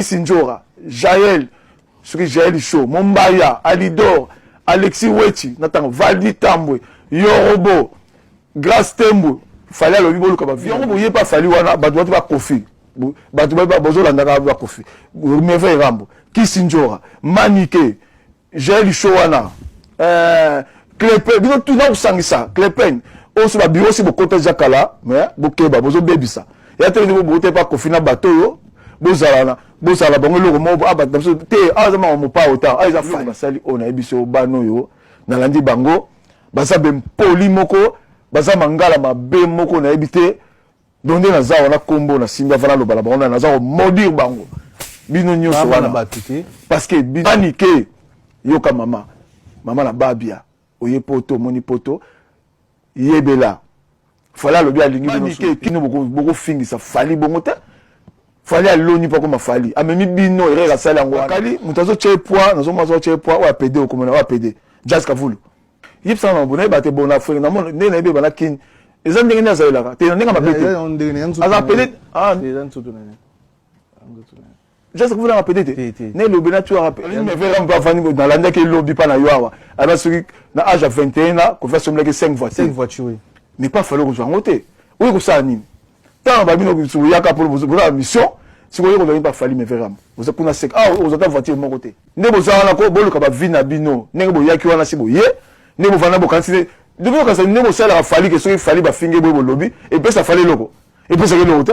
Fabrice Njora, Jael, soki Jael Show, Mombaya, Alidor, Alexis Wechi, natango Valdi Tambwe, Yorobo, Grace Tembo, fali alobi boluka ba yango boye pa fali wana bato bati bakofi bato bazolandaka bakofi merveille rambo kisinjora manike Jael show wana euh Clepen bino tout na kusangisa Clepen oso ba bureau si bokota ja kala mais bokeba bozo bebisa ya te ni bobote pa kofina bato yo bozala na bozala bango eloko moko aba ah, biso te aza ah, ma mopa ota aza ah, fa basali oyo na biso bano yo nalandi bango baza be mpoli moko baza mangala mabe moko nayebi te donc nde naza awa na kombo na simbi avana aloba na bango na naza ko maudire bango bino nyonso wana bato te parce que bani ke yoka mama mama na babia oye poto omoni poto yebela fali alobi alingi bino kino bokofingisa fali bongo te fali aloni mpo akoma fali amemi bino erere asali yango akali moto azotya ye poi nazomona azotya ye poi oyo apede okomona oyo apede jas kavulu yebisa nga makambo nayeba te bon na afrique namona nde nayebi ebana kin eza ndenge nde azalelaka te na ndenge mabe te aza pede ah. jasa kofutaka pede te na elobi na tuaravani nalandaki elobi mpa na yo awa aba soki na age ya 21 na kofi asombelaki 5 voiture mais pas fale kozwa yango te oyo kosala nini tanga ba bino bisu yaka pour vous pour la mission si vous voulez pas fali mais vraiment vous êtes kuna sec ah vous êtes voiture mon côté ne vous avez encore bolu ka ba vie na bino ne bo yaki wana si boye ne bo vana bo kansi de vous kansi ne bo sala fali que soki fali ba finge bo lobi et puis ça fallait logo et puis ça que logo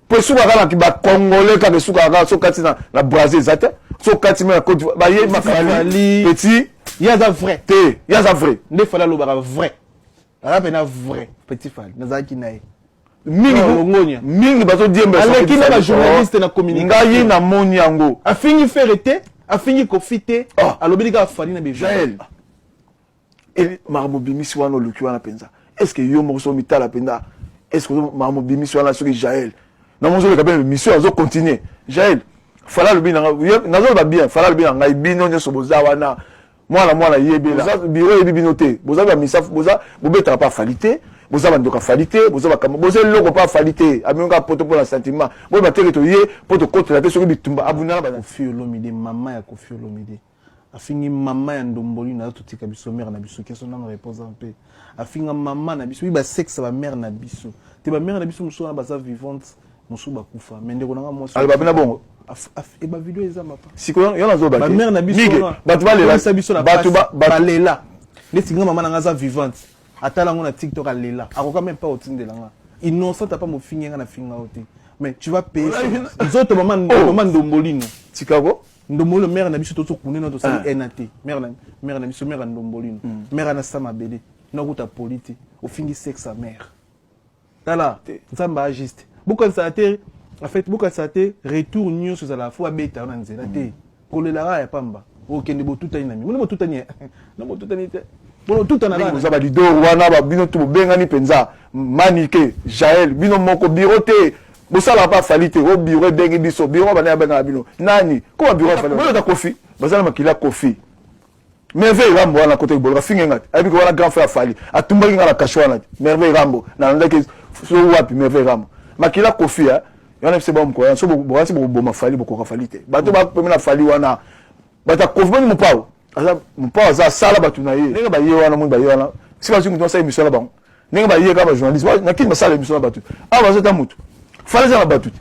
mpo esukaka na ba congolais kaka esukaka kaka so kati na, na brasil eza te so kati me na cote baye makafali petit ye aza vrai te ye aza vrai nde fali alobaka vrai aza mpena vrai petit fali nazalaki na ye mingi mingi bazodiembeleki na bajournaliste na communication ngai namoni yango afingi fere te afingi kofi te ah. alobeli kaka fali na bejael e makambo bimisi wana oluki wana mpenza est ce que yo moko soki omitala mpenza est ce que makambo bimisi wana soki jael na moko ozoleka mpe mission azo continuer jael fala alobi na ngai nazoloba bien fala alobi na ngai bino nyonso boza wana mwana mwana yebela biro yebi bino te boza bamisafu boza bobetaka mpe afali te boza bandoka afali te boza bakambo boza eloko mpe afali te amemi kaka poto mpo na sentiment boye bateke toye mpo tokotela te soki bitumba abundana bana kofi olomide mama ya kofi olomide afingi mama ya ndomboli na totika biso mère na biso keso nano reposa mpe afinga mama na biso ba sexe ba mère na biso te ba mère na biso mosusu wana baza vivante mosusu bakufa me ndeko nanga mwasi aloba mpe na bongo e ba video eza mapa sikoyo yo nazoba ba mère na biso bato balela biso na bato balela neti nga mama na nga aza vivante atala yango na tiktok alela akoka meme mpa otindela nga innocent apa mofingi nga na finga yo te mais tu vas payer nzoto mama oh. ndombolino tikako ndombolo mère na biso tozo kunde na tosali ah. NAT mère na mère na biso mère ndombolino hmm. mère na sama bele na kuta politi ofingi sexe sa mère tala nzamba a juste bokanisa te en fait bokanisa te retour nyonso ezala fo abeta na nzela te hmm. kolelaka ya pamba okende botutani na mingi botutani na botutani te boza balidor wana bino to bobengani mpenza manike jael bino moko biro te bosala pa fali te o bureau ebengi biso bureau bana abengaka bino nani koma bureau afali boyo ta kofi bazala makila kofi merveille rambo wana kote boloka finge ngati ayebi ko wana grand frère afali atumbaki nga na kasho wana te merveille rambo nalandaki so wapi merveille rambo makila kofi ya wana bise ba mkoya so bokasi bokoboma fali bokoka fali te bato bapemi na fali wana bato ya kofi boni mopao aza mopao aza asala bato na ye ndenge baye wana moni baye wana si bazwi moto basala emission na bango ndenge baye kaka bajournaliste na kini basala emission na bato awa baza ata motu fana eza na bato te